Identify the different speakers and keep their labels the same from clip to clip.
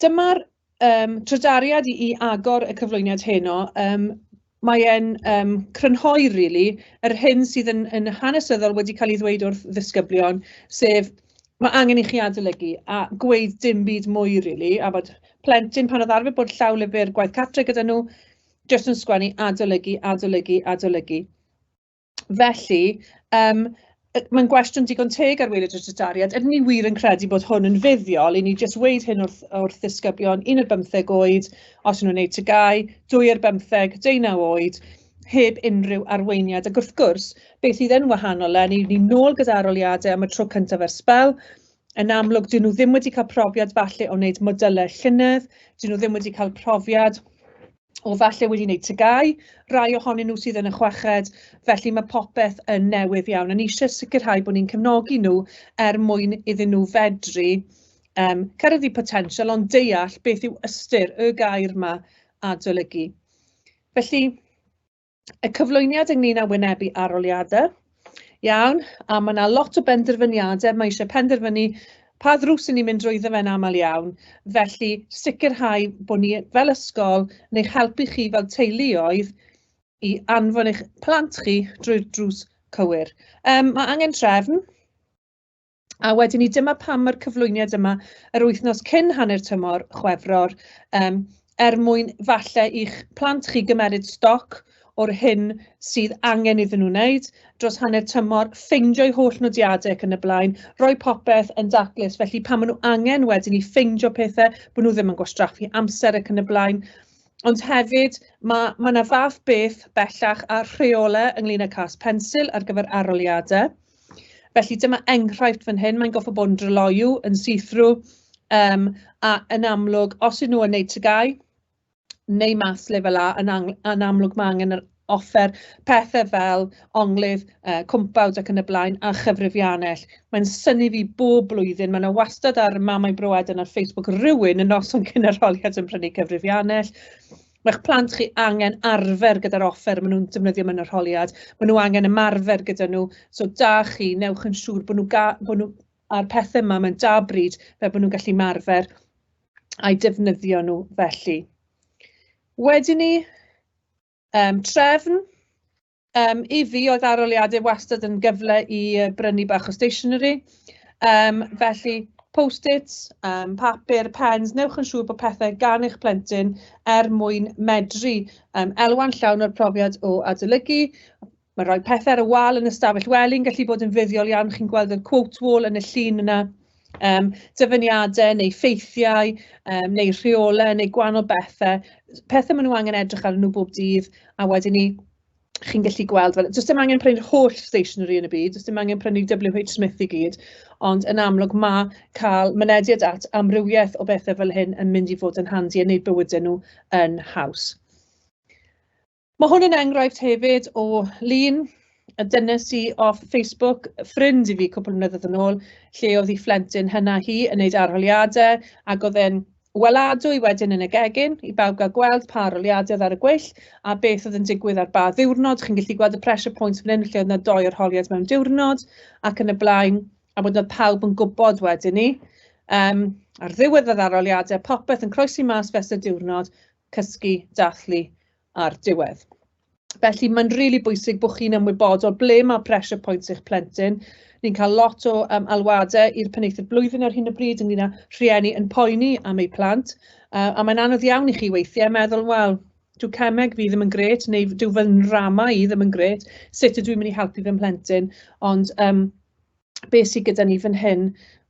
Speaker 1: Dyma'r yym trydariad i i agor y cyflwyniad heno. Yym mae e'n yym crynhoi rili yr hyn sydd yn yn hanesyddol wedi cael ei ddweud wrth ddisgyblion, sef ma' angen i chi adolygu a gweud dim byd mwy rili, a bod plentyn pan oedd arfer bod llawlyfr gwaith cartre gyda nhw jyst yn sgwennu adolygu, adolygu, adolygu. Felly yym yy mae'n gwestiwn digon teg ar waelod y tudaliad, ydyn ni wir yn credu bod hwn yn fuddiol i ni jyst weud hyn wrth wrth ddisgyblion un ar bymtheg oed os o'n nhw'n wneud TGAU, dwy ar bymtheg, deunaw oed, heb unrhyw arweiniad ac wrth gwrs beth fydd yn wahanol eleni yw ni nôl gyda arholiadau am y tro cyntaf ers sbel, yn amlwg 'dyn nhw ddim wedi cael profiad falle o wneud modylau llynedd, 'dyn nhw ddim wedi cael profiad o falle wedi wneud tygau, rai ohonyn nhw sydd yn y chweched, felly mae popeth yn newydd iawn. Yn eisiau sicrhau bod ni'n cefnogi nhw er mwyn iddyn nhw fedru um, cyrraedd potensial ond deall beth yw ystyr y gair yma adolygu. Felly, y cyflwyniad ynglyn â wynebu arholiadau. Iawn, a mae yna lot o benderfyniadau, mae eisiau penderfynu pa ddrws yn ni'n mynd drwyddo fe'n aml iawn. Felly, sicrhau bod ni fel ysgol yn eich helpu chi fel teuluoedd i anfon eich plant chi drwy'r drws cywir. Um, mae angen trefn. A wedyn 'ny dyma pam ma'r cyflwyniad yma yr wythnos cyn hanner tymor Chwefror yym er mwyn falle i'ch plant chi gymeryd stoc o'r hyn sydd angen iddyn nhw wneud dros hanner tymor, ffeindio'u holl nodiadau ac yn y blaen, rhoi popeth yn daclus, felly pan maen nhw angen wedyn ni ffeindio pethau, bod nhw ddim yn gwastraffu amser ac yn y blaen. Ond hefyd, mae ma 'na fath beth bellach a rheolau ynglŷn â cas pensil ar gyfer arholiadau. Felly dyma enghraifft fan hyn, mae'n goffa bod yn dryloyw, yn see-through, um, a yn amlwg, os ydyn nhw yn neud tygau, neu maths lefel A, yn, yn amlwg mae angen yr offer pethau fel onglydd, uh, cwmpawd ac yn y blaen, a chyfrifiannell. Mae'n syni fi bob blwyddyn, mae yna wastad ar mamau broed yn ar Facebook rhywun yn noson cyn yr holiad yn prynu cyfrifiannell. Mae'ch plant chi angen arfer gyda'r offer maen nhw'n defnyddio mewn arholiad. Maen nhw angen ymarfer gyda nhw. So da chi, newch yn siŵr bod nhw, bod nhw a'r pethau yma mewn da bryd fel bod nhw'n gallu marfer a'i defnyddio nhw felly. Wedyn ni, um, trefn, Um, I fi, oedd aroliadau wastad yn gyfle i brynu bach o stationery. Um, felly, post-its, um, papur, pens, newch yn siŵr bod pethau gan eich plentyn er mwyn medru um, elwa'n llawn o'r profiad o adolygu. Mae rhoi pethau ar y wal yn ystafell wely yn gallu bod yn fuddiol iawn. Chi'n gweld y quote wall yn y llun yna. Yym dyfyniadau neu ffeithiau yym neu rheolau neu gwahanol bethe, pethe maen nhw angen edrych arnyn nhw bob dydd, a wedyn 'ny chi'n gallu gweld fel... does dim angen prynu'r holl stationery yn y byd, does dim angen prynu WH Smith i gyd, ond yn amlwg ma' cael mynediad at amrywiaeth o bethe fel hyn yn mynd i fod yn handi a wneud bywydau nhw yn haws. Mae hwn yn enghraifft hefyd o lun a dynes i off Facebook, ffrind i fi cwpl o flynyddoedd yn ôl, lle oedd hi phlentyn hynna hi yn wneud arholiadau ac oedd e'n weladwy wedyn yn y gegin i bawb gael gweld pa arholiadau oedd ar y gweill a beth oedd yn digwydd ar ba ddiwrnod. Chi'n gallu gweld y pressure points fan hyn lle oedd yna doi arholiad mewn diwrnod ac yn y blaen a bod oedd pawb yn gwybod wedyn ni. Um, ar ddiwedd yr arholiadau, popeth yn croesi mas fes y diwrnod, cysgu, dathlu a'r diwedd. Felly mae'n rili really bwysig bod chi'n ymwybodol ble mae pressure points eich plentyn. Ni'n cael lot o um, alwadau i'r penaethiad blwyddyn ar hyn o bryd ynglyn â rhieni yn poeni am eu plant. Uh, a mae'n anodd iawn i chi weithiau meddwl, wel, dyw cemeg fi ddim yn gret, neu dyw fy nrama i ddim yn gret, sut ydw i'n mynd i helpu fy mhlentyn, ond um, be sy gyda ni fan hyn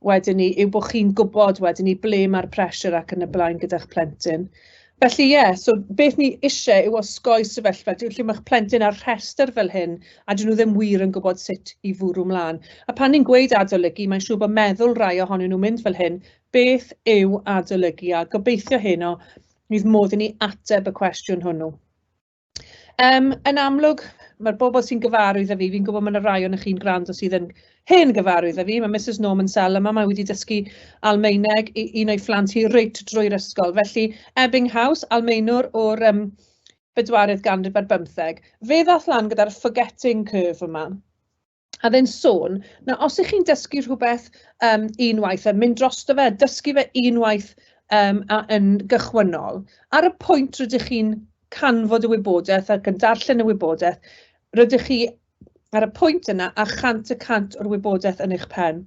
Speaker 1: wedyn 'ny yw bod chi'n gwybod wedyn 'ny ble mae'r pressure ac yn y blaen gyda'ch plentyn. Felly ie, yeah, so beth ni eisiau yw osgoi sefyllfa lle mae eich plentyn ar rhestr fel hyn a dyn nhw ddim wir yn gwybod sut i fwrw mlaen. A pan ni'n gweud adolygu, mae'n siŵr bod meddwl rai ohonyn nhw'n mynd fel hyn, beth yw adolygu a gobeithio heno fydd modd i ni ateb y cwestiwn hwnnw. Yym yn amlwg ma'r bobl sy'n gyfarwydd â fi, fi'n gwybod ma' 'na rai ohonoch chi'n gwrando sydd yn hen gyfarwydd â fi, ma' Misus Norman Sell yma, mae wedi dysgu Almaeneg i un o'i phlant hi reit drwy'r ysgol, felly Ebbing House, Almaenwr o'r yym bedwaredd ganrif ar bymtheg. Fe ddaeth lan gyda'r forgetting curve yma. a oedd e'n sôn, na os 'y chi'n dysgu rhywbeth yym unwaith a mynd drosto fe, dysgu fe unwaith yym a yn gychwynnol, ar y pwynt rydych chi'n canfod y wybodaeth ac yn darllen y wybodaeth, rydych chi ar y pwynt yna â chant y cant o'r wybodaeth yn eich pen.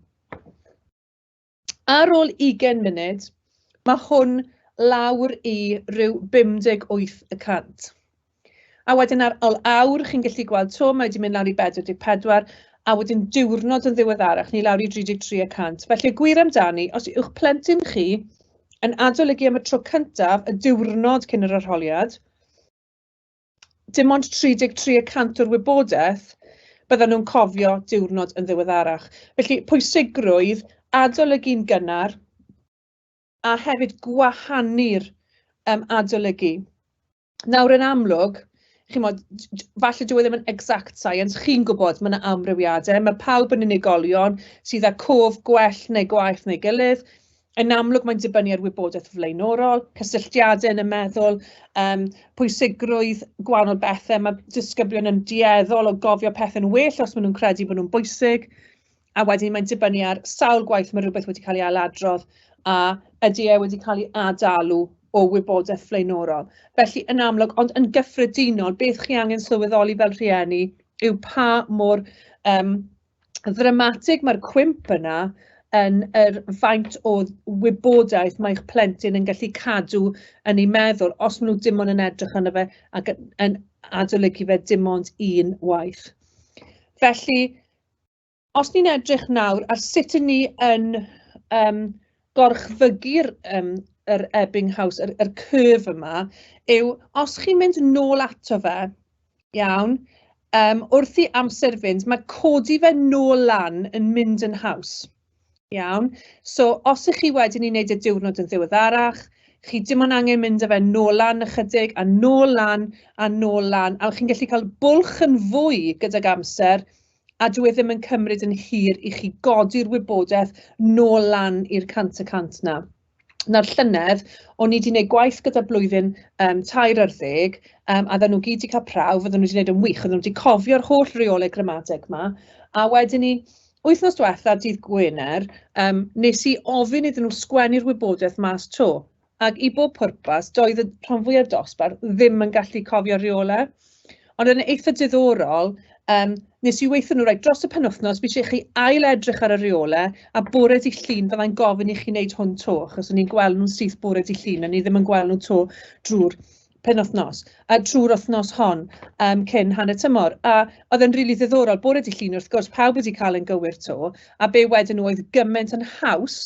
Speaker 1: Ar ôl ugain munud, mae hwn lawr i ryw 58 y cant. A wedyn ar ol awr, chi'n gallu gweld to, mae wedi mynd lawr i 44, a wedyn diwrnod yn ddiweddarach, ni lawr i 33 y cant. Felly, gwir amdani, os yw'ch plentyn chi yn adolygu am y tro cyntaf y diwrnod cyn yr arholiad, dim ond 33 y cant o'r wybodaeth byddan nhw'n cofio diwrnod yn ddiweddarach. Felly, pwysigrwydd adolygu'n gynnar a hefyd gwahanu'r um, adolygu. Nawr, yn amlwg, chymod, falle dwi e ddim yn exact science, chi'n gwybod, mae yna amrywiadau, mae pawb yn unigolion sydd â cof gwell neu gwaeth neu gilydd, Yn amlwg mae'n dibynnu ar wybodaeth flaenorol, cysylltiadau yn y meddwl, um, pwysigrwydd gwahanol bethau. Mae disgyblion yn dueddol o gofio pethau'n well os maen nhw'n credu bod nhw'n bwysig. A wedyn mae'n dibynnu ar sawl gwaith mae rhywbeth wedi cael ei ailadrodd a ydy e wedi cael ei adalu o wybodaeth flaenorol. Felly yn amlwg, ond yn gyffredinol, beth chi angen sylweddoli fel rhieni yw pa mor um, ddramatig, mae'r cwymp yna yn yr faint o wybodaeth mae'ch plentyn yn gallu cadw yn ei meddwl os maen nhw dim ond yn edrych arno fe ac yn, yn adolygu fe dim ond un waith. Felly, os ni'n edrych nawr ar sut yn ni yn um, gorchfygu'r um, yr Ebbing House, yr, yr curve yma, yw os chi'n mynd nôl ato fe, Iawn. Um, wrth i amser fynd, mae codi fe nôl lan yn mynd yn haws. Iawn. So, os ych chi wedyn i wneud y diwrnod yn ddiweddarach, chi dim ond angen mynd â fe nôl lan ychydig, a nôl lan, a nôl lan, a chi'n gallu cael bwlch yn fwy gydag amser, a dwi e ddim yn cymryd yn hir i chi godi'r wybodaeth nôl lan i'r cant y cant na. nawr llynedd, o'n i 'di wneud gwaith gyda blwyddyn um, tair ar ddeg, um, a oedden nhw gyd wedi cael prawf, oedden nhw wedi gwneud yn wych, oedden nhw wedi cofio'r holl reolau gramadeg yma, a wedyn ni, wythnos diwetha, dydd Gwener, um, nes i ofyn iddyn nhw sgwennu'r wybodaeth mas to, ac i bob pwrpas, doedd y rhan fwyaf dosbarth ddim yn gallu cofio reolau. Ond yn eitha diddorol, yym, nes i weithio nhw, reit, dros y penwythnos, fi eisiau chi ail edrych ar y rheolau, a bore di llun fyddai'n gofyn i chi wneud hwn to, achos o'n i'n gweld nhw'n syth bore di llun, o'n i ddim yn gweld nhw to drwy'r penwythnos, a trwy'r wythnos hon um, cyn hanner tymor. A oedd e'n rili really ddiddorol, bore di llun wrth gwrs, pawb wedi cael yn gywir to, a be wedyn nhw oedd gymaint yn haws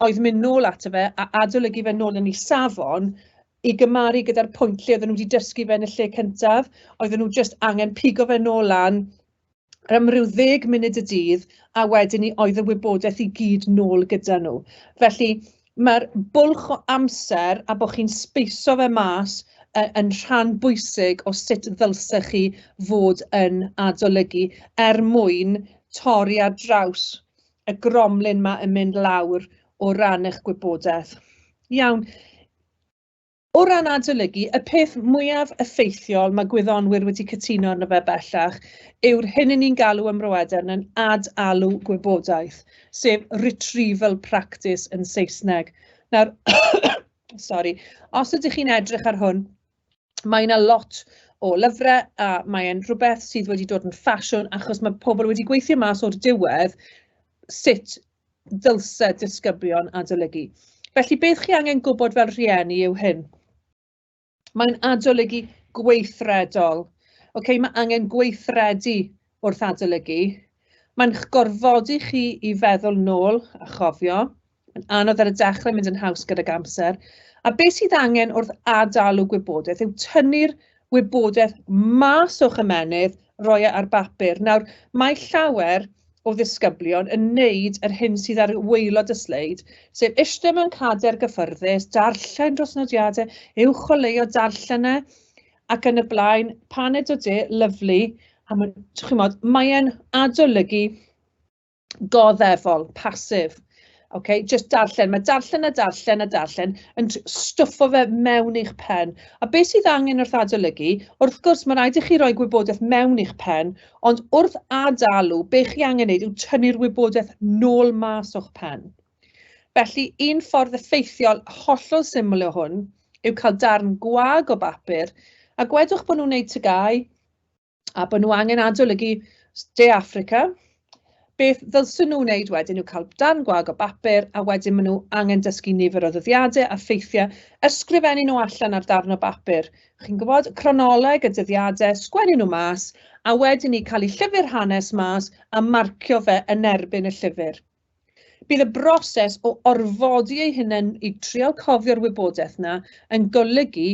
Speaker 1: oedd mynd nôl ato fe a adolygu fe nôl yn ei safon i gymaru gyda'r pwynt lle oedden nhw wedi dysgu fe yn y lle cyntaf, oedden nhw jyst angen pigo fe nôl lan yr am ryw ddeg munud y dydd a wedyn ni oedd y wybodaeth i gyd nôl gyda nhw. Felly mae'r bwlch o amser a bod chi'n speiso fe mas yn rhan bwysig o sut ddylse chi fod yn adolygu er mwyn torri ar draws y gromlin ma yn mynd lawr o ran eich gwybodaeth. Iawn. O ran adolygu, y peth mwyaf effeithiol mae gwyddonwyr wedi cytuno arno fe bellach yw'r hyn yn ni'n galw ym Mroedern yn ad-alw gwybodaeth, sef retrieval practice yn Saesneg. Nawr, sorry, os ydych chi'n edrych ar hwn, mae 'na lot o lyfrau a mae e'n rhywbeth sydd wedi dod yn ffasiwn achos mae pobl wedi gweithio mas o'r diwedd sut ddylse disgyblion adolygu. Felly beth chi angen gwybod fel rhieni yw hyn. Mae'n adolygu gweithredol. Okay, mae angen gweithredu wrth adolygu. Mae'n gorfodi chi i feddwl nôl a chofio. Mae'n anodd ar y dechrau, mynd yn haws gydag amser. A beth sydd angen wrth adalu gwybodaeth yw tynnu'r wybodaeth mas o'ch ymennydd, roi e ar bapur. Nawr, mae llawer o ddisgyblion yn wneud yr hyn sydd ar waelod y sleid, sef eistedd mewn cader gyffyrddus, darllen dros nodiadau, uwch o leio darllen e, ac yn y blaen, paned o de, lyflu, a mae, chi'n modd, mae'n adolygu goddefol, passive. Okay? Just darllen, mae darllen a darllen a darllen yn stwffo fe mewn i'ch pen. A beth sydd angen wrth adolygu, wrth gwrs mae rhaid i chi roi gwybodaeth mewn i'ch pen, ond wrth adalu, be chi angen wneud yw tynnu'r wybodaeth nôl mas o'ch pen. Felly, un ffordd effeithiol hollol syml o hwn yw cael darn gwag o bapur, a gwedwch bod nhw'n wneud tygau, a bod nhw angen adolygu De Affrica, beth ddylsyn nhw wneud wedyn yw cael dan gwag o bapur a wedyn maen nhw angen dysgu nifer o ddyddiadau a ffeithiau, ysgrifennu nhw allan ar darn o bapur. Chi'n gwybod, cronoleg y dyddiadau, sgwennu nhw mas, a wedyn ni cael ei llyfr hanes mas a marcio fe yn erbyn y llyfr. Bydd y broses o orfodi eu hunain i trial cofio'r wybodaeth yna yn golygu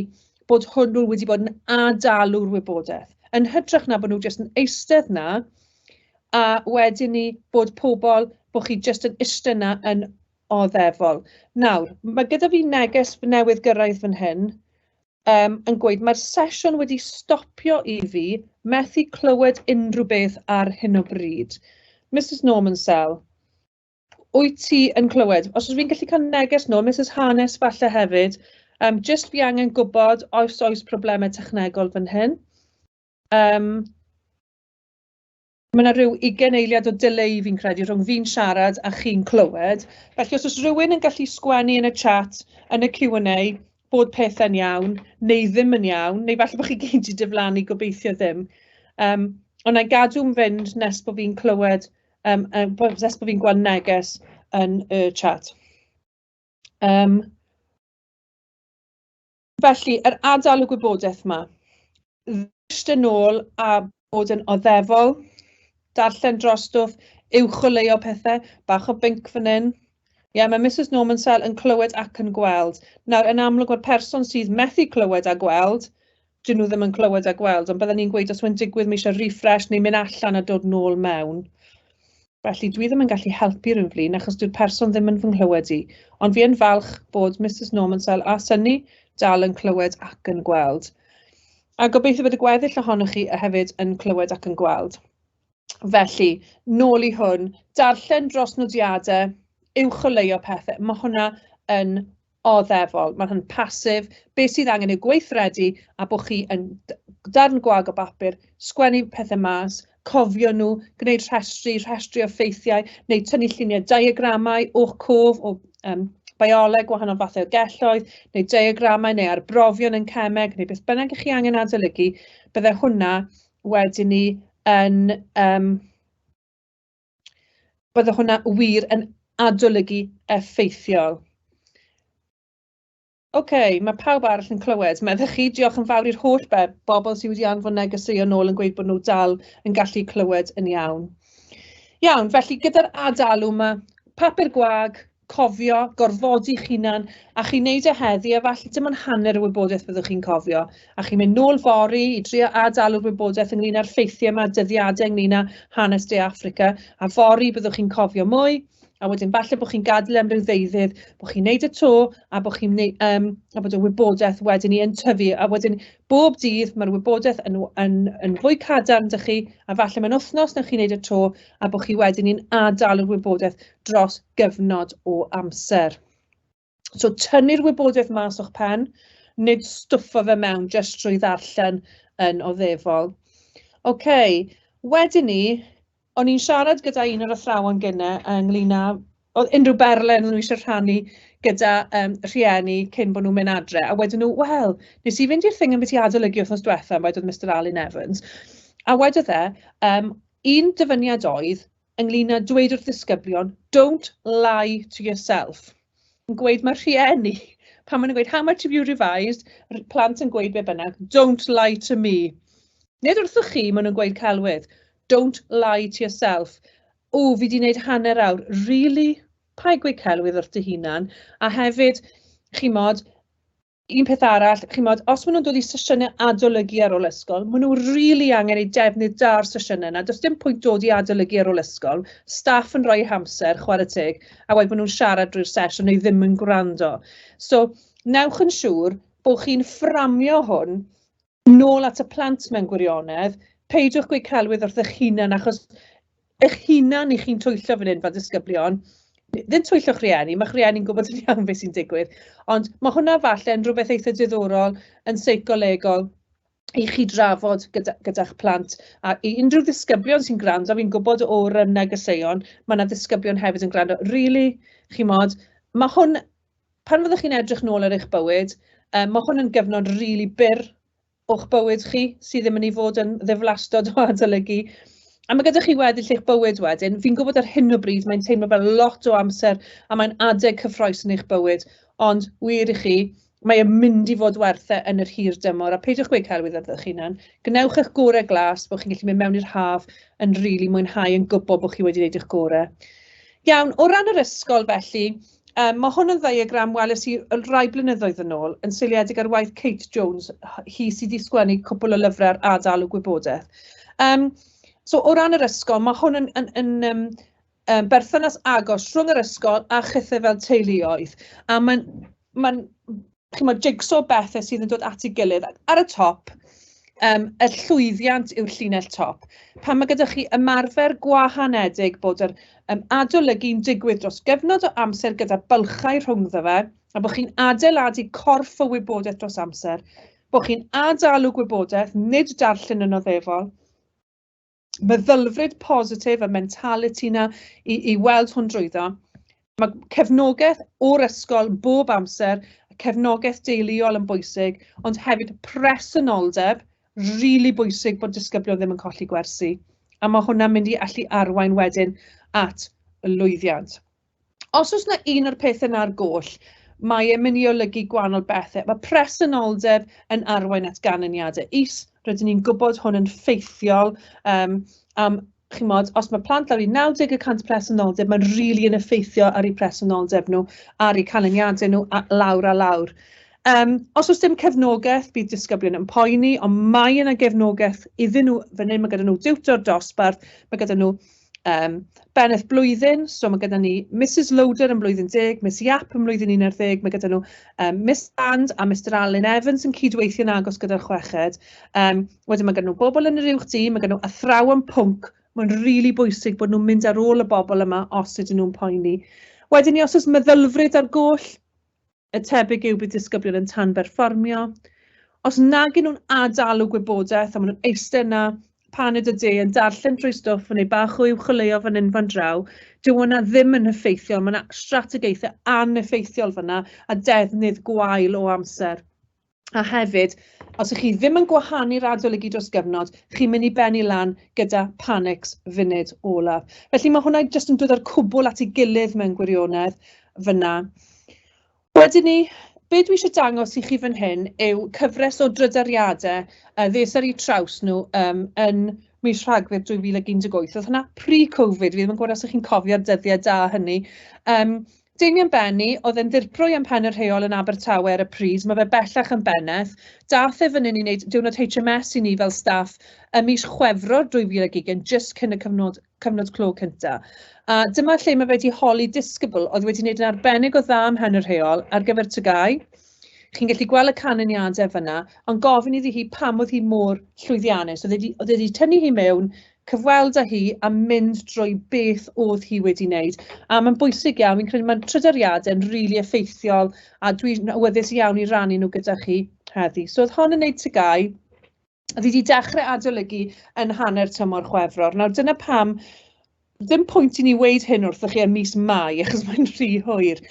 Speaker 1: bod hwnnw wedi bod yn adalu'r wybodaeth, yn hytrach na bod nhw jyst yn eistedd yna a wedyn ni bod pobl, bod chi jyst yn eistedd yna yn oddefol. Nawr, mae gyda fi neges newydd gyrraedd fan hyn um, yn gweud, mae'r sesiwn wedi stopio i fi methu clywed unrhyw beth ar hyn o bryd. Mrs Norman Sell, wyt ti yn clywed? Os ydw i'n gallu cael neges nhw, Mrs Hanes falle hefyd, um, just fi angen gwybod oes oes problemau technegol fan hyn. Um, Mae yna rhyw ugain eiliad o delay fi'n credu rhwng fi'n siarad a chi'n clywed. Felly os oes rhywun yn gallu sgwennu yn y chat, yn y Q&A, bod pethau'n iawn, neu ddim yn iawn, neu falle bod chi gyd wedi diflannu gobeithio ddim. Um, ond na'i gadw'n fynd nes bod fi'n clywed, um, nes bod fi'n gweld neges yn y chat. Um, Felly, yr adael y gwybodaeth yma, ddysg yn ôl a bod yn oddefol, darllen dros stwff, uwcholeuo pethau, bach o binc fan hyn. Ie, yeah, mae Mrs Norman Sell yn clywed ac yn gweld. Nawr, yn amlwg mae'r person sydd methu clywed a gweld, dyn nhw ddim yn clywed a gweld, ond byddwn ni'n gweud os mae'n digwydd mae eisiau refresh neu mynd allan a dod nôl mewn. Felly, dwi ddim yn gallu helpu rhyw flin achos dyw'r person ddim yn fy nghlywed i. Ond fi yn falch bod Misus Normansell a Synni dal yn clywed ac yn gweld. A gobeithio bod y gweddill ohonoch chi hefyd yn clywed ac yn gweld. Felly, nôl i hwn, darllen dros nodiadau, uwch o leio pethau. Mae hwnna yn Oddefol, mae hyn passive, be sydd angen yw gweithredu a bod chi yn darn gwag o bapur, sgwennu pethau mas, cofio nhw, gwneud rhestri, rhestri o ffeithiau, neu tynnu lluniau diagramau o'ch cof o um, bioleg, wahanol fathau o gelloedd, neu diagramau neu arbrofion yn cemeg, neu beth bynnag ych chi angen adolygu, bydde hwnna wedyn ni yn um, bydde hwnna wir yn adolygu effeithiol. OK, mae pawb arall yn clywed. Meddych chi, diolch yn fawr i'r holl be, bobl sydd wedi anfon negeseuon nôl yn gweud bod nhw dal yn gallu clywed yn iawn. Iawn, felly gyda'r ad-alw mae papur gwag, cofio, gorfodi'ch hunan, a chi'n neud e heddi, a falle dim ond hanner y wybodaeth byddwch chi'n cofio, a chi'n mynd nôl fori i drio ad-dalu'r wybodaeth ynglyn â'r ffeithiau yma, dyddiadau ynglyn â hanes De Affrica, a fori byddwch chi'n cofio mwy, a wedyn falle bod chi'n gadael am ryw ddeuddydd, bod chi'n neud y to, a bod chi'n neud, um, a bod y wybodaeth wedyn ni yn tyfu, a wedyn bob dydd mae'r wybodaeth yn, yn, yn fwy cadarn dych chi, a falle mae'n wythnos na chi'n neud y to, a bod chi wedyn ni'n ad-dalu'r wybodaeth. dros gyfnod o amser. So tynnu'r wybodaeth mas o'ch pen, nid stwffo fe mewn jyst trwy ddarllen yn oddefol. OK, wedyn ni, o'n i'n siarad gyda un o'r athrawon gyne ynglyn â oedd unrhyw berlen nhw eisiau rhannu gyda um, rhieni cyn bod nhw'n mynd adre. A wedyn nhw, wel, nes i fynd i'r thing yn beth i adolygu wrthnos diwethaf, wedyn Mr Alun Evans. A wedodd e, um, un dyfyniad oedd, ynglyn â dweud wrth ddisgyblion, don't lie to yourself. Yn gweud mae rhieni, pan maen nhw'n gweud, how much have you revised, plant yn gweud be bynnag, don't lie to me. Nid wrthych chi, maen nhw'n gweud celwydd, don't lie to yourself. O, fi wedi gwneud hanner awr, really? Pa gweud celwydd wrth dy hunan? A hefyd, chi'n modd, Un peth arall, chimod, os maen nhw'n dod i sesiynau adolygu ar ôl ysgol, maen nhw rili angen eu defnydd da ar sesiynau yna. Does dim pwynt dod i adolygu ar ôl ysgol, staff yn rhoi hamser, chwarae teg, a wedyn maen nhw'n siarad drwy'r sesh a nhw ddim yn gwrando. So, newch yn siŵr bod chi'n fframio hwn Nôl at y plant mewn gwirionedd, peidiwch gweud celwydd wrth eich hunan achos eich hunan i chi'n twyllo fan hyn fel disgyblion, ddim twyllo'ch rhieni, mae'ch rhieni'n gwybod yn iawn beth sy'n digwydd, ond mae hwnna falle yn rhywbeth eitha diddorol yn seicolegol i chi drafod gyda, gyda'ch plant a i unrhyw ddisgyblion sy'n gwrando, fi'n gwybod o'r um, negeseuon, mae yna ddisgyblion hefyd yn gwrando, really, chi'n modd, mae hwn pan fyddwch chi'n edrych nôl ar eich bywyd, um, mae hwn yn gyfnod rili really byr o'ch bywyd chi, sydd ddim yn ei fod yn ddiflastod o adolygu. A mae gyda chi weddill eich bywyd wedyn. Fi'n gwybod ar hyn o bryd mae'n teimlo fel lot o amser a mae'n adeg cyffroes yn eich bywyd, ond wir i chi, mae e'n mynd i fod werth e yn yr hir dymor, a peidiwch gweud celwydd ydych chi'n hyn. Gwnewch eich gorau glas bod chi'n gallu mynd mewn i'r haf yn rili really mwynhau yn gwybod bod chi wedi gwneud eich gorau. Iawn, o ran yr ysgol felly, Yym, mae hwn yn ddiagram weles i rai blynyddoedd yn ôl, yn seiliedig ar waith Kate Jones, hi sydd wedi sgwennu cwpl o lyfrau ar adalu gwybodaeth. Um, so o ran yr ysgol, mae hwn yn, yn, yn um, um, berthynas agos rhwng yr ysgol a chythau fel teuluoedd. A mae'n mae chimod, jigsaw o bethe sydd yn dod at ei gilydd. Ar y top, um, y llwyddiant yw'r llinell top. Pan mae gyda chi ymarfer gwahanedig bod yr um, adolygu'n digwydd dros gyfnod o amser gyda bylchau rhwngddo fe, a bod chi'n adeiladu corff o wybodaeth dros amser, bod chi'n adalu gwybodaeth, nid darllen yn oddefol, meddylfryd positif, y mentality 'na i i weld hwn drwyddo. Mae cefnogaeth o'r ysgol bob amser, cefnogaeth deuluol yn bwysig, ond hefyd presenoldeb, rili bwysig bod disgyblion ddim yn colli gwersi. A mae hwnna'n mynd i allu arwain wedyn at lwyddiant. os oes yna un o'r pethau yna ar goll, mae e'n mynd i olygu gwahanol bethau. Mae presenoldeb yn arwain at ganlyniadau is. Rydyn ni'n gwybod hwn yn ffeithiol um, am chymod, os mae plant lawr i 90 y cant presenoldeb, mae'n rili really yn effeithio ar eu presenoldeb nhw, ar eu canlyniadau nhw, a lawr a lawr. Um, os oes dim cefnogaeth, bydd disgyblion yn poeni, ond mae yna gefnogaeth iddyn nhw, fan hyn mae gyda nhw diwtor dosbarth, mae gyda nhw yym beneth blwyddyn, so ma' gyda ni Misus Loader yn blwyddyn deg, Miss Yap yn mlwyddyn un ar ddeg, mae gyda nhw yym Miss Sand a Mister Alun Evans yn cydweithio'n agos gyda'r chweched. Yym wedyn ma' gyda nhw bobl yn yr uwch dîm, ma' gyda nhw athrawon pwnc, mae'n rili really bwysig bod nhw'n mynd ar ôl y bobl yma os ydyn nhw'n poeni. Wedyn ni os oes meddylfryd ar goll, y tebyg yw bydd disgyblion yn tanberfformio. Os nag yn nhw'n adalu gwybodaeth a maen nhw'n eistedd yna paned y de yn darllen drwy stwff yn ei bach o uwcholeuo fan hyn fan draw, dyw hwnna ddim yn effeithiol, mae yna strategaethau aneffeithiol fanna a defnydd gwael o amser. A hefyd, os ych chi ddim yn gwahanu radolygu dros gyfnod, chi'n mynd i bennu lan gyda panics funud olaf. Felly mae hwnna jyst yn dod o'r cwbl at ei gilydd mewn gwirionedd fyna. Wedyn ni, be dwi eisiau dangos i chi fan hyn yw cyfres o drydariadau a ddes ar eu traws nhw um, yn mis Rhagfyr 2018. Oedd hwnna pre-Covid, fi ddim yn gwybod os ych chi'n cofio'r dyddiau da hynny. Um, Damien Benny, oedd yn ddirprwy am Pen y Rheol yn Abertawe ar y pryd, mae fe bellach yn bennaeth. Dath e fan hyn i wneud diwrnod HMS i ni fel staff ym mis Chwefror 2020, jyst cyn y cyfnod, cyfnod clo cynta. A dyma lle mae fe wedi holi disgybl oedd wedi wneud yn arbennig o dda ym Mhen y Rheol ar gyfer TGAU. Chi'n gallu gweld y canlyniadau fyna, ond gofyn iddi hi pam oedd hi mor llwyddiannus. Oedd e wedi tynnu hi mewn cyfweld â hi a mynd drwy beth oedd hi wedi wneud. A mae'n bwysig iawn, fi'n credu mae'n trydariadau'n rili really effeithiol a dwi'n awyddus iawn i rannu nhw gyda chi heddi. So oedd hon yn neud tygau, oedd wedi dechrau adolygu yn hanner tymor chwefror. Nawr dyna pam ddim pwynt i ni weid hyn wrthych chi yn mis Mai, achos mae'n rhy hwyr.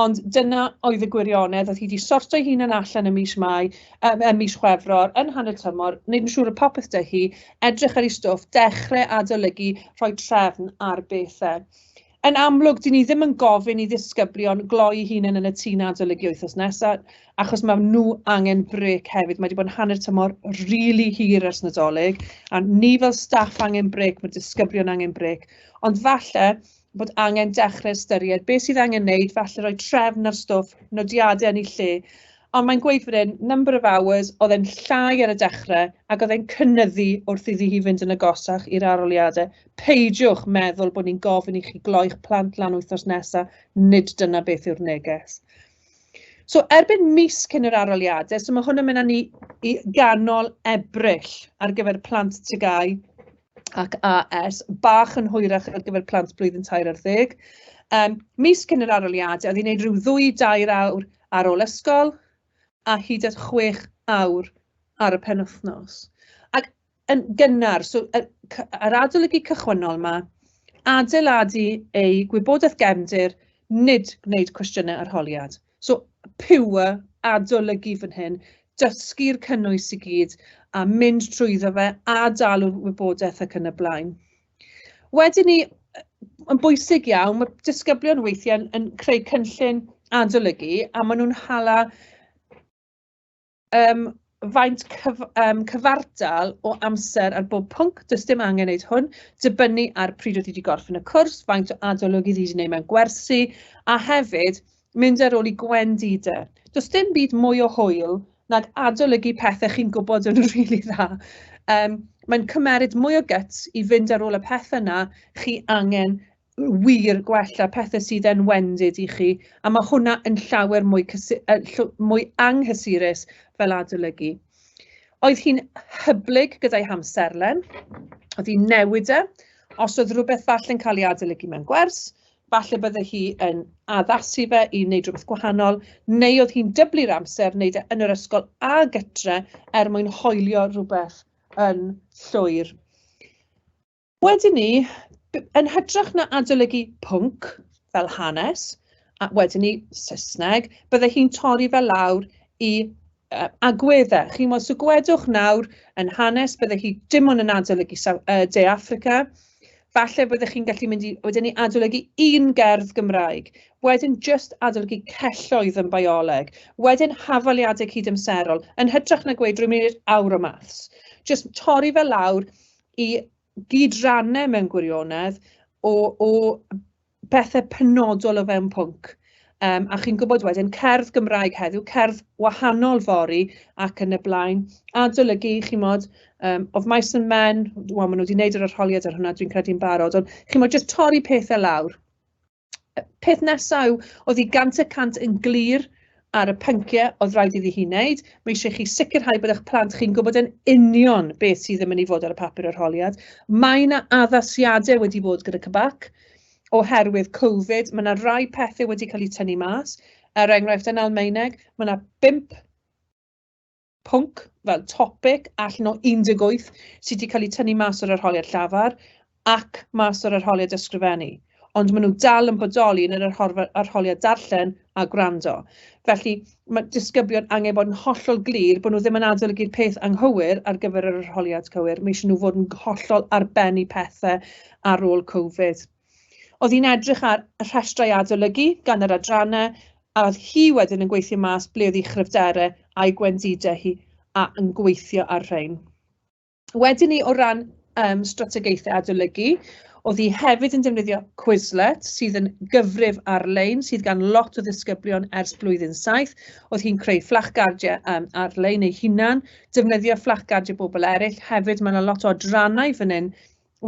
Speaker 1: Ond dyna oedd y gwirionedd, oedd hi wedi sortio hun yn allan y mis Mai, y mis Chwefror, yn hanner tymor, wneud yn siŵr y popeth dy hi, edrych ar ei stwff, dechrau adolygu, rhoi trefn ar bethau. Yn amlwg, dyn ni ddim yn gofyn i ddisgyblion gloi hunain yn y tŷ na adolygu wythnos nesaf, achos mae nhw angen brec hefyd. Mae wedi bod yn hanner tymor rili really hir ers Nadolig, a ni fel staff angen brec, mae disgyblion angen brec. Ond falle, bod angen dechrau ystyried beth sydd angen wneud, falle rhoi trefn ar stwff, nodiadau yn ei lle. Ond mae'n gweud fan hyn, number of hours, oedd e'n llai ar y dechrau ac oedd e'n cynnyddu wrth iddi hi fynd yn agosach i'r aroliadau. Peidiwch meddwl bod ni'n gofyn i chi gloi'ch plant lan wythnos nesaf, nid dyna beth yw'r neges. So erbyn mis cyn yr arholiadau, so mae hwn yn mynd â ni i ganol Ebrill ar gyfer plant TGAU ac AS, bach yn hwyrach ar gyfer plant blwyddyn tair ar ddeg. Um, mis cyn yr arholiadau, oedd hi'n gwneud rhyw ddwy dair awr ar ôl ysgol a hyd at chwech awr ar y penwythnos. Ac yn gynnar, so, y, yr adolygu cychwynnol yma, adeiladu ei gwybodaeth gefndir, nid gwneud cwestiynau arholiad. So, pure adolygu fan hyn, dysgu'r cynnwys i gyd a mynd trwyddo fe a dalu'r wybodaeth ac yn y blaen. Wedyn ni, yn bwysig iawn, mae disgyblion weithiau yn, yn creu cynllun adolygu a maen nhw'n hala Yym, faint cyf yym cyfartal o amser ar bob pwnc, does dim angen wneud hwn, dibynnu ar pryd oedd hi wedi gorffen y cwrs, faint o adolygu oedd hi wedi gwneud mewn gwersi, a hefyd mynd ar ôl i gwendidau. Does dim byd mwy o hwyl nag adolygu pethau chi'n gwybod yn rili really dda. Um, mae'n cymeryd mwy o gyts i fynd ar ôl y peth yna chi angen wir gwell a pethau sydd yn wendid i chi, a mae hwnna yn llawer mwy, mwy anghysurus fel adolygu. Oedd hi'n hyblyg gyda'i hamserlen, oedd hi'n newid e, os oedd rhywbeth falle yn cael ei adolygu mewn gwers, falle bydde hi yn addasu fe i wneud rhywbeth gwahanol, neu oedd hi'n dyblu'r amser wneud e yn yr ysgol a gytre er mwyn hoelio rhywbeth yn llwyr. Wedyn 'ny, yn hytrach na adolygu pwnc fel hanes, a wedyn 'ny Saesneg, bydde hi'n torri fe lawr i uh, agweddau. Chi'n modd, so gwedwch nawr yn hanes, bydde hi dim ond yn adolygu uh, De Africa, falle byddech chi'n gallu mynd i wedyn ni adolygu un gerdd Gymraeg, wedyn just adolygu celloedd yn bioleg, wedyn hafaliadau cydamserol, yn hytrach na gweud rwy'n mynd i'r awr o maths. Just torri fe lawr, i gyd-rannu mewn gwirionedd o o bethe penodol o fewn pwnc. Um, a chi'n gwybod wedyn, cerdd Gymraeg heddiw, cerdd wahanol fori ac yn y blaen. Adolygu, chi'n modd, um, of mice and men, wel, maen nhw wedi gwneud yr arholiad ar hwnna, dwi'n credu'n barod, ond chi'n modd jyst torri pethau lawr. peth nesaf yw, oedd hi gant y cant yn glir ar y pynciau oedd rhaid iddi hi wneud. Mae eisiau chi sicrhau bod eich plant chi'n gwybod yn union beth sydd yn mynd i fod ar y papur arholiad. Mae yna addasiadau wedi bod gyda Cybac oherwydd Covid. Mae yna rai pethau wedi cael eu tynnu mas. Er enghraifft, yn Almaeneg, mae yna bimp pwnc, fel topic, allan o 18 sydd wedi cael eu tynnu mas o'r arholiad llafar ac mas o'r arholiad ysgrifennu. Ond maen nhw dal yn bodoli yn yr arholiad darllen a gwrando. Felly, mae disgyblion angen bod yn hollol glir bod nhw ddim yn adolygu'r peth anghywir ar gyfer yr arholiad cywir. Mae eisiau nhw fod yn hollol arbennu pethau ar ôl Covid. Oedd hi'n edrych ar y rhestrau adolygu gan yr adrannau a oedd hi wedyn yn gweithio mas ble oedd ei chryfderau a'i gwendidau hi a yn gweithio ar rhain. Wedyn ni o ran um, strategaethau adolygu, oedd hi hefyd yn defnyddio Quizlet sydd yn gyfrif ar-lein sydd gan lot o ddisgyblion ers blwyddyn saith. Oedd hi'n creu fflachgardiau um, ar-lein ei hunan, defnyddio fflachgardiau bobl eraill. Hefyd mae yna lot o adrannau fan hyn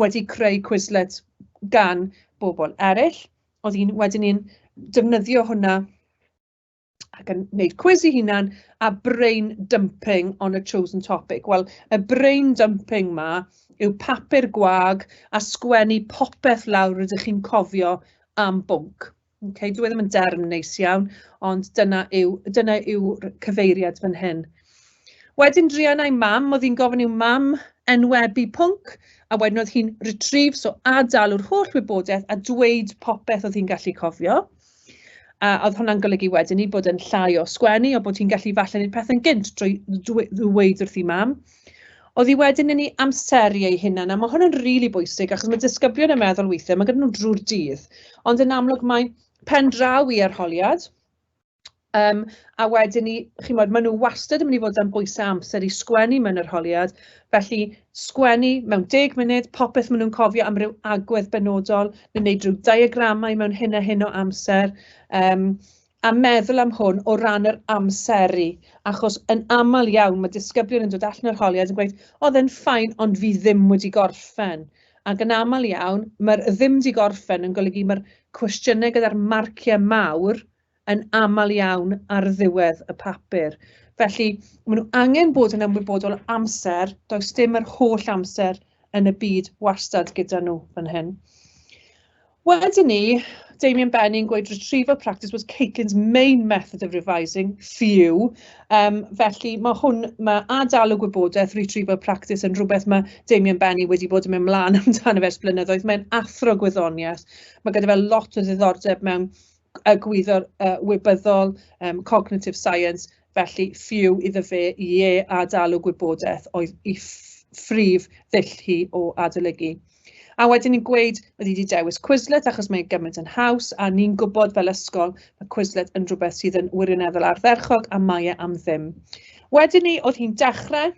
Speaker 1: wedi creu Quizlet gan bobl eraill. Oedd un, wedyn ni'n defnyddio hwnna ac yn wneud cwiz i hunan a brain dumping on a chosen topic. Wel, y brain dumping ma yw papur gwag a sgwennu popeth lawr rydych chi'n cofio am bwnc. Ok, dyw e ddim yn derm neis iawn, ond dyna yw dyna yw cyfeiriad fan hyn. Wedyn druan a'i mam, oedd hi'n gofyn i'w mam enwebu pwnc, a wedyn oedd hi'n retrieve, so adalw'r holl wybodaeth a dweud popeth oedd hi'n gallu cofio. A oedd hwnna'n golygu wedyn i bod yn llai o sgwennu, o bod hi'n gallu falle wneud pethau'n gynt drwy ddweud wrth ei mam. Oedd hi wedyn yn ei amseru ei hunan, a mae hwn yn rili really bwysig, achos mae disgyblion yn meddwl weithiau, mae gyda nhw drwy'r dydd, ond yn amlwg mae pen draw i arholiad, um, a wedyn ni, chi'n modd, maen nhw wastad yn mynd i fod am bwysau amser i sgwennu mewn arholiad, felly sgwennu mewn deg munud, popeth maen nhw'n cofio am ryw agwedd benodol, neu wneud rhyw diagramau mewn hyn a hyn o amser, um, a meddwl am hwn o ran yr amseru, achos yn aml iawn mae disgyblion yn dod allan o'r holiad yn gweud, oedd e'n ffain ond fi ddim wedi gorffen. Ac yn aml iawn, mae'r ddim wedi gorffen yn golygu mae'r cwestiynau gyda'r marciau mawr yn aml iawn ar ddiwedd y papur. Felly, maen nhw angen bod yn ymwybodol amser, does dim yr holl amser yn y byd wastad gyda nhw fan hyn. Wedyn ni, Damien Benny yn gweud retrieval practice was Caitlin's main method of revising, few. Um, felly mae hwn, mae adael o gwybodaeth retrieval practice yn rhywbeth mae Damien Benny wedi bod yn mynd mlaen amdano fes blynyddoedd. Mae'n athro gwyddoniaeth. Mae gyda fe lot o ddiddordeb mewn y gwyddo'r uh, wybyddol, um, cognitive science, Felly, ffyw iddo fe, ie, a dal o gwybodaeth oedd i ffrif ddull hi o adolygu. A wedyn ni'n gweud, oedd wedi dewis Quizlet achos mae'n gymaint yn haws, a ni'n gwybod fel ysgol, mae Quizlet yn rhywbeth sydd yn wirioneddol ardderchog a mae e am ddim. Wedyn ni, oedd hi'n dechrau,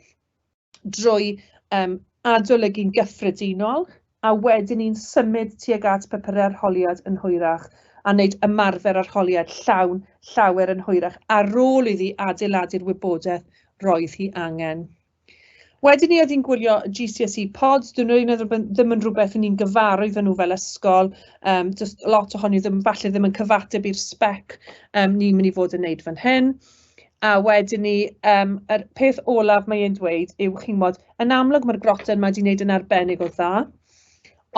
Speaker 1: drwy um, adolygu'n gyffredinol, a wedyn ni'n symud tuag at papurau arholiad yn hwyrach a wneud ymarfer arholiad llawn llawer yn hwyrach ar ôl iddi adeiladu'r wybodaeth roedd hi angen. Wedyn ni oedd hi'n gwylio GCSE pods, dyn nhw'n meddwl bod ddim yn rhywbeth ni'n gyfaru iddyn nhw fel ysgol, um, just lot ohoni ddim, falle ddim yn cyfateb i'r spec um, ni'n mynd i fod yn wneud fan hyn. A wedyn 'ny yym yr peth olaf mae e'n dweud yw chimod yn amlwg ma'r grotten 'ma 'di neud yn arbennig o dda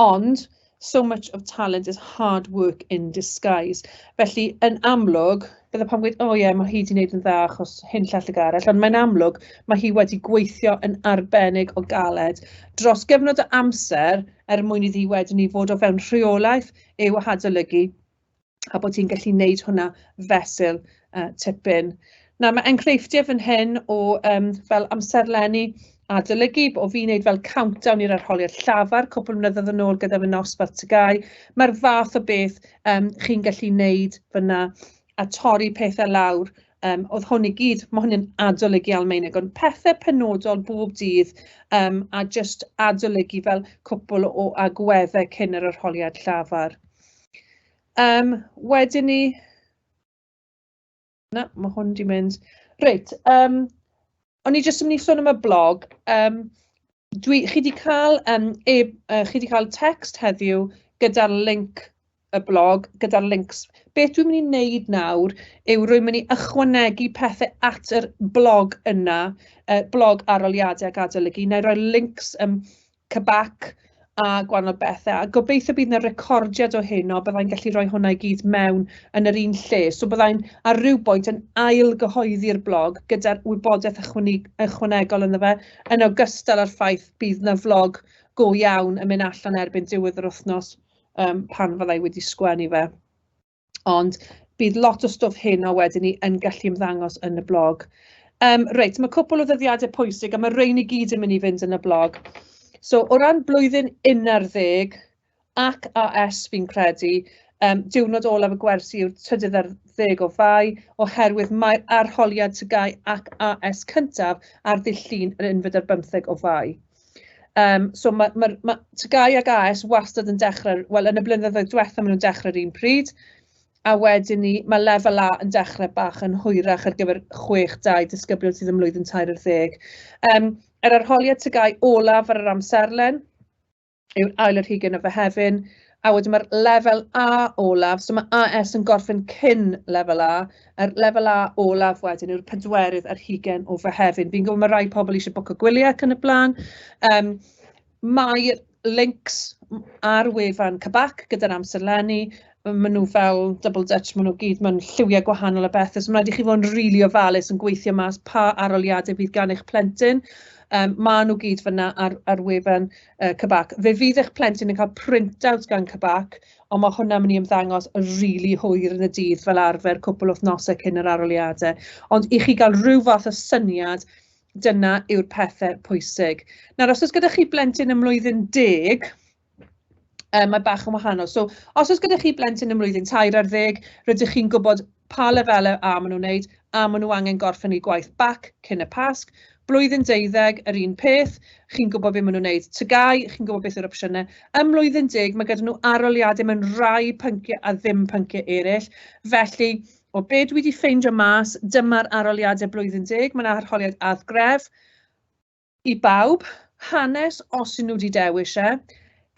Speaker 1: ond so much of talent is hard work in disguise. Felly yn amlwg bydde pawb yn gweud o ie ma' hi 'di neud yn dda achos hyn llall ag arall ond mae'n amlwg ma' hi wedi gweithio yn arbennig o galed dros gyfnod o amser er mwyn iddi wedyn 'ny fod o fewn rheolaeth i'w hadolygu a bod ti'n gallu wneud hwnna fesul uh, tipyn. Na, mae enghreifftiau fan hyn o um, fel amserlenni adolygu, o fi wneud fel countdown i'r arholiad llafar cwpl mlynedd yn ôl gyda fy nosbarth tygau. Mae'r fath o beth um, chi'n gallu wneud fyna a torri pethau lawr. Um, oedd hwn i gyd, mae hwn yn adolygu Almeinig, ond pethau penodol bob dydd um, a just adolygu fel cwpl o agweddau cyn yr arholiad llafar. Yym wedyn 'ny... Na ma' hwn 'di mynd. Reit yym o'n i jyst yn mynd i sôn am y blog yym dwi... chi 'di cael yym e- yy chi 'di cael tecst heddiw gyda'r linc y blog gyda'r lincs. Beth dwi'n mynd i wneud nawr yw rwy'n mynd i ychwanegu pethe at yr blog yna yy blog arholiadau ac adolygu. Wna i roi lincs yym Cybac a gwahanol bethe, a gobeithio bydd 'na recordiad o hyn, o byddai'n gallu rhoi hwnna i gyd mewn yn yr un lle. So byddai'n ar ryw bwynt yn ail gyhoeddi'r blog gyda'r wybodaeth ychwanegol ynddo fe, yn ogystal â'r ffaith bydd 'na flog go iawn yn mynd allan erbyn diwedd yr wythnos um, pan fyddai wedi sgwennu fe. Ond bydd lot o stwff heno wedyn ni yn gallu ymddangos yn y blog. Um, reit, mae cwpl o ddyddiadau pwysig a mae rhain i gyd yn mynd i fynd yn y blog. So, o ran blwyddyn 11 ac AS fi'n credu, um, diwrnod olaf y gwersi yw'r trydydd ar ddeg o fai, oherwydd mae'r arholiad tygau ac AS cyntaf ar ddill llun yn unfyd ar bymtheg o fai. Yym so ma' ma'r ma' TGAU ac AS wastad yn dechrau... wel yn y blynyddoedd diwethaf maen nhw'n dechrau yr un pryd a wedyn ni ma' lefel A yn dechrau bach yn hwyrach ar gyfer chwech dau disgyblion sydd ym mlwyddyn tair ar ddeg. Yym yr arholiad TGAU olaf ar yr amserlen yw'r ail ar hugain o Fehefin. A wedyn ma'r lefel A olaf, so ma' AS yn gorffen cyn lefel A, a'r lefel A olaf wedyn yw'r pedwerydd ar hugain o Fehefin. Fi'n gwybod ma' rai pobl isie bwco gwylie ac yn y blaen. Yym mae'r links ar wefan CBAC gyda'r amserlenni, ma' nhw fel double dutch, ma' nhw gyd mewn lliwiau gwahanol a bethe, so ma' raid i chi fod yn rili ofalus yn gweithio mas pa aroliadau fydd gan eich plentyn. Yym ma' nhw gyd fan'na ar ar wefan yy CBAC. Fe fydd eich plentyn yn cael printout gan CBAC, ond mae hwnna'n mynd i ymddangos yn rili really hwyr yn y dydd fel arfer cwpl wythnosau cyn yr arholiadau. Ond i chi gael rhyw fath o syniad, dyna yw'r pethau pwysig. Nawr, os oes gyda chi blentyn ym mlwyddyn deg, um, mae bach yn wahanol. So, os oes gyda chi blentyn ym mlwyddyn tair ar ddeg, rydych chi'n gwybod pa lefelau a maen nhw'n wneud, a maen nhw angen gorffen eu gwaith bac cyn y Pasg. Blwyddyn deuddeg, yr un peth, chi'n gwybod beth maen nhw'n wneud. Tygau, chi'n gwybod beth yw'r opsiynau. Ym mlwyddyn deg, mae gyda nhw aroliadau mewn rhai pynciau a ddim pynciau eraill. Felly, o be dwi wedi ffeindio mas, dyma'r aroliadau blwyddyn deg, mae'n arholiad add gref, I bawb, hanes os yw nhw 'di dewis e,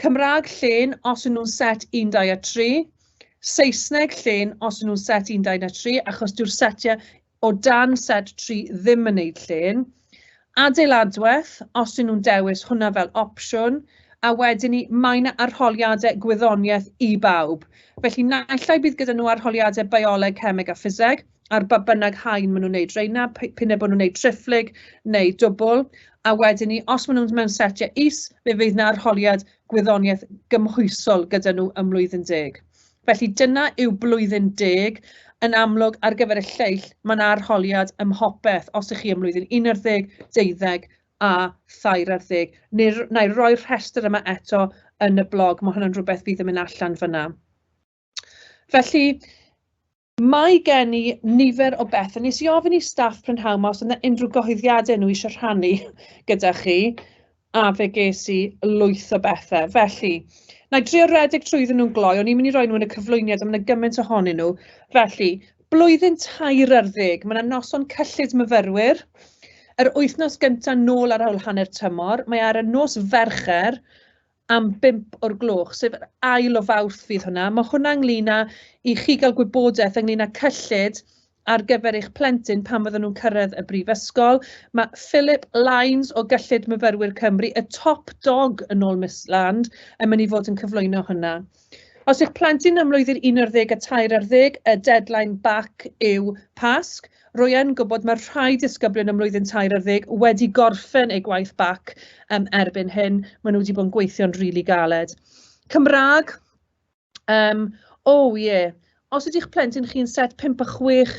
Speaker 1: Cymraeg llên os yw nhw'n set 1, 2 a 3, Saesneg llên os yw nhw'n set 1, 2 na 3, achos dyw'r setiau o dan set 3 ddim yn neud llên, Adeiladwaith os yw nhw'n dewis hwnna fel opsiwn, a wedyn 'ny mae 'na arholiadau gwyddoniaeth i bawb. Felly naill ai bydd gyda nhw arholiadau Bioleg, Cemeg a Ffiseg, ar ba bynnag haen maen nhw'n wneud reina, p'un e bod nhw'n wneud triphlyg neu dwbl, a wedyn ni, os maen nhw'n mewn setiau is, fe fydd yna arholiad gwyddoniaeth gymhwysol gyda nhw ym mlwyddyn deg. Felly dyna yw blwyddyn deg, yn amlwg ar gyfer y lleill mae'n arholiad ym mhopeth os ych chi ym mlwyddyn 11, 12 a thair ar ddeg. Neu, na i roi'r rhestr yma eto yn y blog, mae hwnna'n rhywbeth fydd yn mynd allan fyna. Felly, Mae gen i nifer o bethau. Nes i ofyn i staff prynhawn ma os yna unrhyw gyhoeddiadau nhw eisiau rhannu gyda chi, a fe ges i lwyth o bethau. Felly, na i drio redeg trwyddyn nhw'n gloi, o'n i'n mynd i roi nhw yn y cyflwyniad, ond mae yna gymaint ohonyn nhw. Felly, blwyddyn tair ar ddeg, mae yna noson cyllid myfyrwyr, yr wythnos gyntaf nôl ar ôl hanner tymor, mae ar y nos Fercher, am bump o'r gloch, sef yr ail o Fawrth fydd hwnna. Mae hwnna ynglyn â i chi gael gwybodaeth ynglyn â cyllid ar gyfer eich plentyn pan fydden nhw'n cyrraedd y brifysgol. Mae Philip Lines o Gyllid Myfyrwyr Cymru, y top dog yn ôl Miss Land, yn mynd i fod yn cyflwyno hwnna. Os yw'ch plentyn ym mlwyddyn un ar ddeg a tair ar ddeg, y deadline bac yw Pasg. Rwy'n yn gwybod mae'r rhai disgyblion ym mlwyddyn tair ar ddeg wedi gorffen eu gwaith bac um, erbyn hyn. Maen nhw wedi bod yn gweithio'n rili really galed. Cymraeg, um, o oh, ie, yeah. os ydy'ch plentyn chi'n set 5 a 6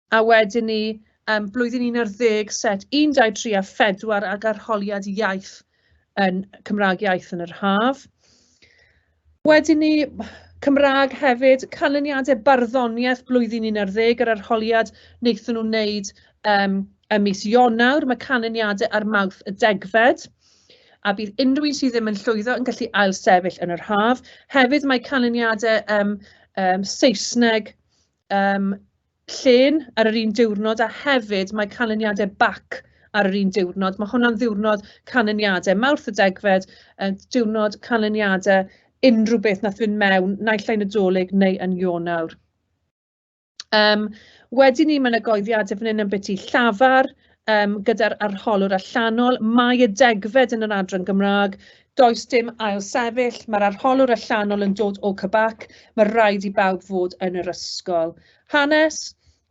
Speaker 1: A wedyn 'ny yym blwyddyn un ar ddeg set un, dau, tri a phedwar ag arholiad iaith yn Cymraeg iaith yn yr haf. Wedyn 'ny Cymraeg hefyd, canlyniadau barddoniaeth blwyddyn un ar ddeg yr arholiad wnaethon nhw wneud yym ym mis Ionawr, mae canlyniadau ar Mawrth y degfed a bydd unrhyw un sydd ddim yn llwyddo yn gallu ailsefyll yn yr haf. Hefyd mae canlyniadau yym yym Saesneg yym llên ar yr un diwrnod a hefyd mae canlyniadau bac ar yr un diwrnod. Mae hwnna'n ddiwrnod canlyniadau. Mawrth y degfed, uh, diwrnod canlyniadau unrhyw beth nath fynd mewn, naill ai Nadolig neu yn Ionawr. Um, wedyn ni, mae yna goeddiadau fan hyn yn byti llafar, yym gyda'r arholwr allanol, mae y degfed yn yr adran Gymraeg, does dim ail sefyll, mae'r arholwr allanol yn dod o Cybac, mae rhaid i bawb fod yn yr ysgol. Hanes,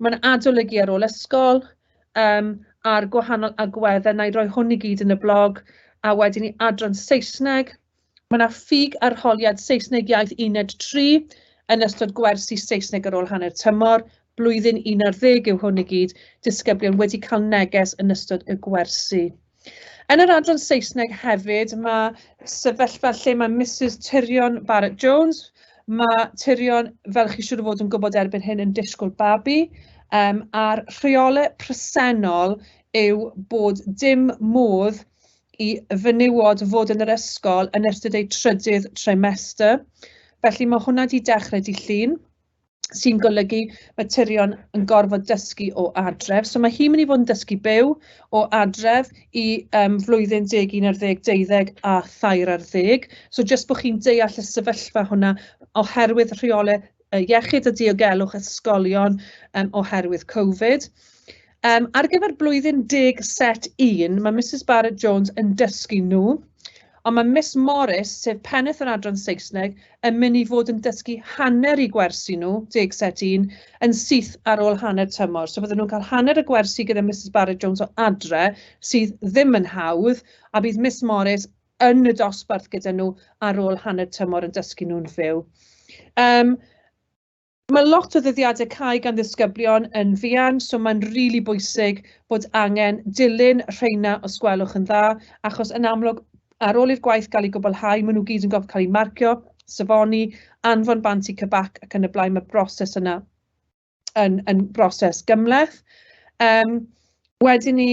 Speaker 1: mae'n adolygu ar ôl ysgol, um, a'r gwahanol agweddau, na i roi hwn i gyd yn y blog, a wedyn i adran Saesneg, Mae yna ffug arholiad Saesneg Iaith Uned 3 yn ystod gwersi Saesneg ar ôl hanner tymor, blwyddyn un ar ddeg yw hwn i gyd, disgyblion wedi cael neges yn ystod y gwersi. Yn yr adran Saesneg hefyd, mae sefyllfa lle mae Misus Tirion Barrett Jones, mae Tirion, fel chi siŵr o fod yn gwybod erbyn hyn, yn disgwyl babi, um, a'r rheolau presennol yw bod dim modd i fenywod fod yn yr ysgol yn ystod eu trydydd trimester. Felly mae hwnna wedi dechrau dydd Llun, sy'n golygu materion yn gorfod dysgu o adref. So mae hi'n mynd i fod yn dysgu byw o adref i um, flwyddyn deg un ar ddeg deuddeg a thair ar ddeg. So jyst bod chi'n deall y sefyllfa hwnna oherwydd rheolau yy iechyd a diogelwch ysgolion yym oherwydd Covid. Yym ar gyfer blwyddyn deg set un, mae Misus Barrett Jones yn dysgu nhw, ond mae Miss Morris, sef pennaeth yr adran Saesneg, yn mynd i fod yn dysgu hanner i gwersi nhw, deg set un, yn syth ar ôl hanner tymor. So fydden nhw'n cael hanner y gwersi gyda Misus Barrett Jones o adre, sydd ddim yn hawdd, a bydd Miss Morris yn y dosbarth gyda nhw ar ôl hanner tymor yn dysgu nhw'n fyw. Um, Mae lot o ddyddiadau cae gan ddisgyblion yn fuan, so mae'n rili really bwysig bod angen dilyn rheina os gwelwch yn dda, achos yn amlwg ar ôl i'r gwaith gael ei gwblhau, maen nhw gyd yn gorfod cael eu marcio, safoni, anfon bant i cybac ac yn y blaen, mae broses yna. yn, yn broses gymhleth. Um, wedyn ni,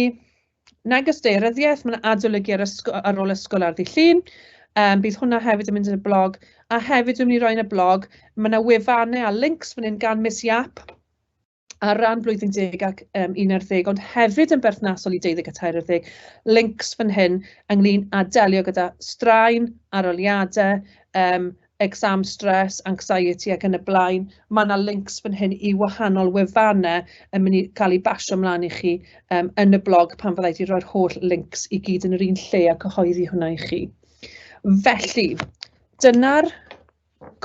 Speaker 1: neges deiryddiaeth, mae'n adolygu ar, ysgol, ar ôl ysgol ar ddi llun. Um, bydd hwnna hefyd yn mynd yn y blog. A hefyd dwi'n mynd i roi yn y blog, mae yna wefannau a links fan hyn gan Miss Yap ar ran blwyddyn deg ac um, un ar ddeg, ond hefyd yn berthnasol i deuddeg a tair ar ddeg, links fan hyn ynglyn â delio gyda straen, aroliadau, um, exam stress, anxiety ac yn y blaen. Mae yna links fan hyn i wahanol wefannau yn mynd i gael ei basio ymlaen i chi um, yn y blog pan fyddai wedi rhoi'r holl links i gyd yn yr un lle a cyhoeddi hwnna i chi. Felly, dyna'r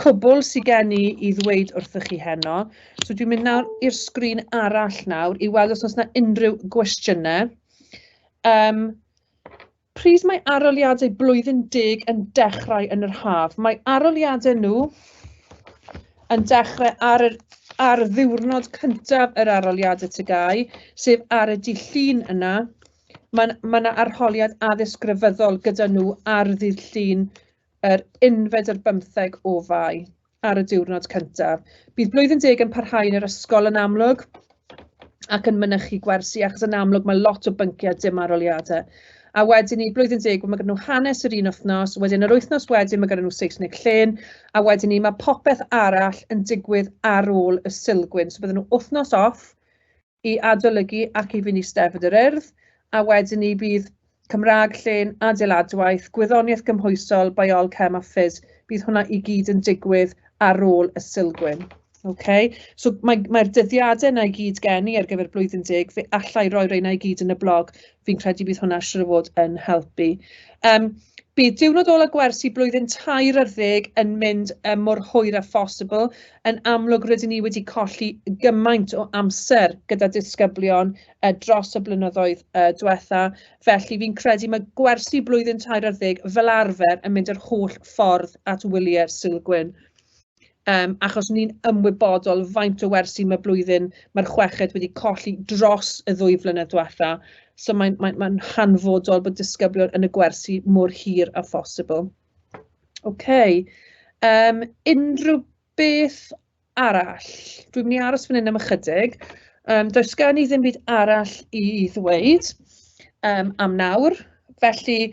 Speaker 1: cwbl sydd gen i i ddweud wrthych chi heno. So dwi'n mynd nawr i'r sgrin arall nawr i weld os oes yna unrhyw gwestiynau. Um, Pryd mae aroliadau blwyddyn deg yn dechrau yn yr haf? Mae aroliadau nhw yn dechrau ar, yr, ar ddiwrnod cyntaf yr aroliadau tygau, sef ar y dydd llun yna. Mae yna ma arholiad addysg grefyddol gyda nhw ar ddydd llun yr unfed ar bymtheg o fai. ar y diwrnod cyntaf. Bydd blwyddyn deg yn parhau yn yr ysgol yn amlwg ac yn mynychu gwersi, achos yn amlwg mae lot o bynciau dim aroliadau. A wedyn ni, blwyddyn deg, mae gen nhw hanes yr un wythnos, wedyn yr wythnos wedyn mae gen nhw Saesneg llên, a wedyn ni mae popeth arall yn digwydd ar ôl y silgwyn. So bydden nhw wythnos off, i adolygu ac i fyny Steddfod yr Urdd, a wedyn 'ny bydd Cymraeg, Llên, Adeiladwaith, Gwyddoniaeth Gymhwysol, Biol, Chem a Ffys, bydd hwnna i gyd yn digwydd ar ôl y Sulgwyn. Okay. So mae'r mae dyddiadau yna i gyd gen i ar gyfer blwyddyn deg, fe allai roi reina i gyd yn y blog. fi'n credu bydd hwnna siwr o fod yn helpu. Um, bydd diwrnod ola gwersi blwyddyn tair ar ddeg yn mynd um, mor hwyr a phosibl. Yn amlwg rydyn ni wedi colli gymaint o amser gyda disgyblion uh, dros y blynyddoedd uh, diwetha, felly fi'n credu mae gwersi blwyddyn tair ar ddeg fel arfer yn mynd yr holl ffordd at wyliau'r silgwyn. Yym, achos ni'n ymwybodol faint o wersi mae blwyddyn, mae'r chweched wedi colli dros y ddwy flynedd diwetha. So mae'n mae, mae hanfodol bod disgyblion yn y gwersi mor hir â phosibl. Oce. Okay. Um, unrhyw beth arall? Dwi'n mynd i aros fan hyn am ychydig. Um, does gen i ddim byd arall i ddweud um, am nawr. Felly,